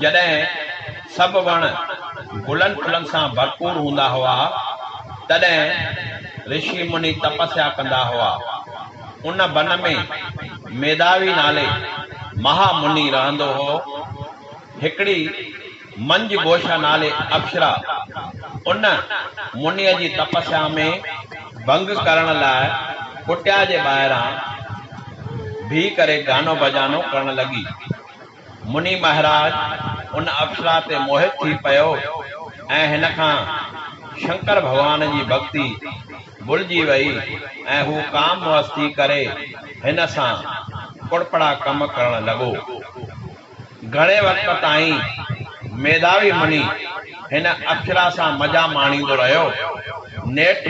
جڏهن سڀ وڻ گلن ڦلن سان ڀرپور هوندا هئا، تڏهن رشي مني تپسيا ڪندا هئا. ان بن ۾ ميداوي نالي مها مني رهندو هو. هڪڙي منجھ گوشا نالي اپسرا ان منيء جي تپسيا ۾ ڀنگ ڪرڻ لاء ڪٽيا جي ٻاهران بيهي ڪري گانو بجانو ڪرڻ لڳي. مني مهراج ان اپسرا تي موهت ٿي پيو ۽ هن کان شنڪر ڀڳوان جي ڀڳتي ڀلجي وئي ۽ هو ڪام مئس ٿي ڪري هن سان ڪڙپڙا ڪم ڪرڻ لڳو. گهڻي وقت تائين ميڌاوي مني هن اپسرا سان مزا ماڻيندو رهيو. نيٺ.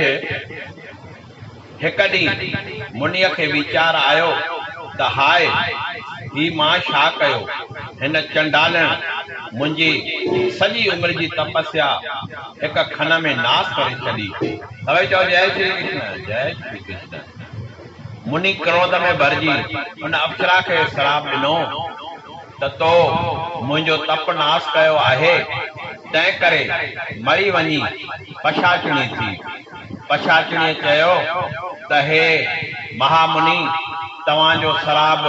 هڪ ڏينهن منيء کي ويچار آيو ته هاء! هي مان ڇا ڪيو؟ هن چنڊالڻ منهنجي سڄي عمر جي تپسيا هڪ کن ۾ ناس ڪري ڇڏي. سڀئي چئو جئه شري ڪشن، جئه شري ڪشن. مني ڪروڌ ۾ ڀرجي ان اپسرا کي سراپ ڏنو ته تو منهنجو تپ ناس ڪيو آهي، تنهنڪري مري وڃي پشاچڻي ٿي. پشاچڻيء چيو ته هي مهامني، توهان جو سراب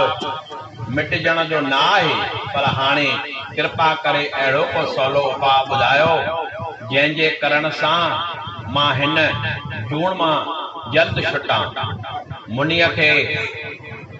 مٽجڻ جو نه آهي، پر هاڻي ڪرپا ڪري اهڙو ڪو سولو اپاء ٻڌايو، جنهن جي ڪرڻ سان مان هن جوڻ مان جلد ڇٽان. منيء کي.